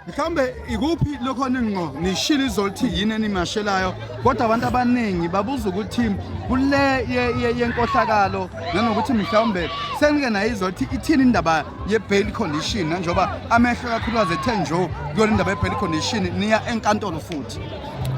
mhlawumbe ikuphi lokho ninqo nishilo izolo ukuthi yini enimashelayo kodwa abantu abaningi babuza ukuthi kule yenkohlakalo nanokuthi mhlawumbe senike naye izolo ukuthi ithini indaba ye-bail condition nanjengoba amehlo kakhulukazi ethe njo kuyona indaba ye-bail condition niya enkantolo futhi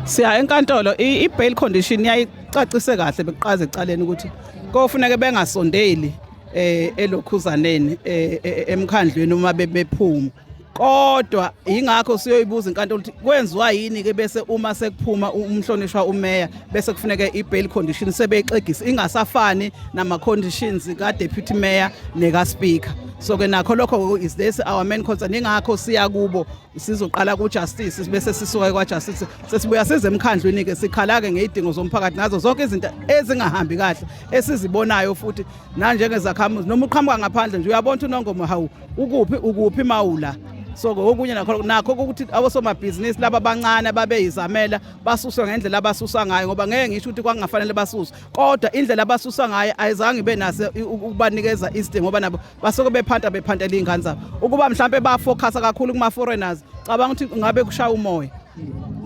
siya enkantolo i-bail condition yayicacise kahle bekuqaza ecaleni ukuthi kofuneke bengasondeli eh elokhuzaneni eh, eh, eh, emkhandlweni uma bephuma kodwa yingakho siyoyibuza inkantolo ukuthi kwenziwa yini ke bese uma sekuphuma umhlonishwa umeya bese kufuneke i-bail condition sebeyixegisa ingasafani nama-conditions ka-deputy mayor neka-speaker so ke nakho lokho is this our main concern ingakho siya kubo sizoqala kujustice bese sisuka kwajustice sesibuya size emkhandlwini ke sikhala-ke ngeyidingo zomphakathi nazo zonke izinto ezingahambi kahle esizibonayo futhi nanjengezakhamuzi noma uqhamuka ngaphandle nje uyabona ukuthi unongomo hawu ukuphi ukuphi mawula so okunye nakho nakho ukuthi abosomabhizinisi laba abancane ababeyizamela basuswa ngendlela abasusa ngayo ngoba ngeke ngisho ukuthi kwangafanele basuswe kodwa indlela abasusa ngayo ayizange ibe nase ukubanikeza iside ngoba nabo basuke bephanta bephantela iy'ngane zabo ukuba mhlawumpe bafocusa kakhulu kuma-foreigners cabanga ukuthi ngabe kushaya umoya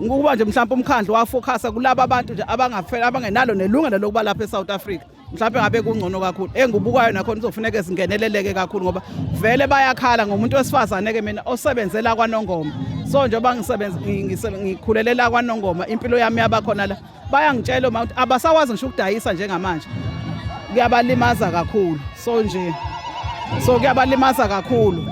ukuba nje mhlawumpe umkhandlu wafocusa kulaba abantu nje abangenalo nelungelo lokuba lapha e-south africa mhlawumbe ngabe kungcono kakhulu engibukayo nakhona kuzofuneka zingeneleleke kakhulu ngoba vele bayakhala ngomuntu wesifazane-ke mina osebenzela kwanongoma so njengoba ngikhulelela kwanongoma impilo yami yabakhona la bayangitshela uma ukuthi abasakwazi ngisho ukudayisa njengamanje kuyabalimaza kakhulu so nje so kuyabalimaza kakhulu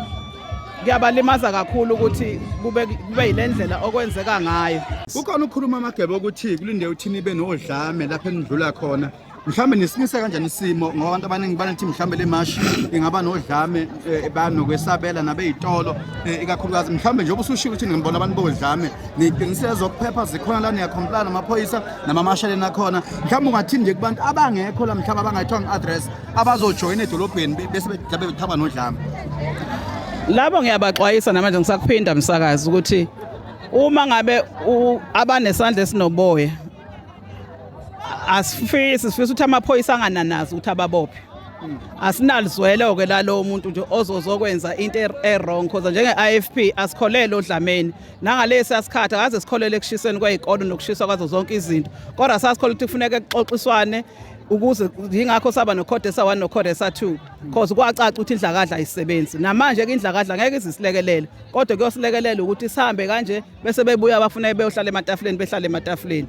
kuyabalimaza kakhulu ukuthi kube kube yilendlela okwenzeka ngayo kukhona ukukhuluma amagebe ukuthi kulinde uthini ibe nodlame lapho enidlula khona mhlawumbe nisinise kanjani isimo ngoba abantu abaningi banethi mhlawumbe le mashi ingaba nodlame eh, banokwesabela nabeyitolo eh, ikakhulukazi mhlawumbe njengoba usushilo ukuthi ningibona abantu bodlame niqinisile zokuphepha zikhona la niyakhompilana namaphoyisa namamashaleni akhona mhlawumbe ungathini nje kubantu abangekho la mhlawumbe abangayithwanga i-address abazojoyina edolobheni be- bese be- mhlawumbe bethaba nodlame labo ngiyabaxwayisa namanje ngisakuphinda msakazi ukuthi uma ngabe u- abanesandla esinoboya asifisi sifisa ukuthi amaphoyisa angananazi ukuthi ababophe asinalizwelo-ke lalowo muntu nje ozozokwenza into er- e-wrong khoza njenge-ifp asikholele odlameni nangalesi asikhathi akaze sikholele ekushiseni kwey'kolo nokushiswa kwazo zonke izinto kodwa sasikholele ukuthi kufuneka kuxoxiswane ukuze yingakho saba nokhodesa 1 nokhodesa 2 cause kwacaca ukuthi indlakadla ayisebenzi namanje ke indlakadla ngeke izisilekelele kodwa kuyosilekelela ukuthi sihambe kanje bese bebuya bafuna beyohlala ematafuleni behlale ematafuleni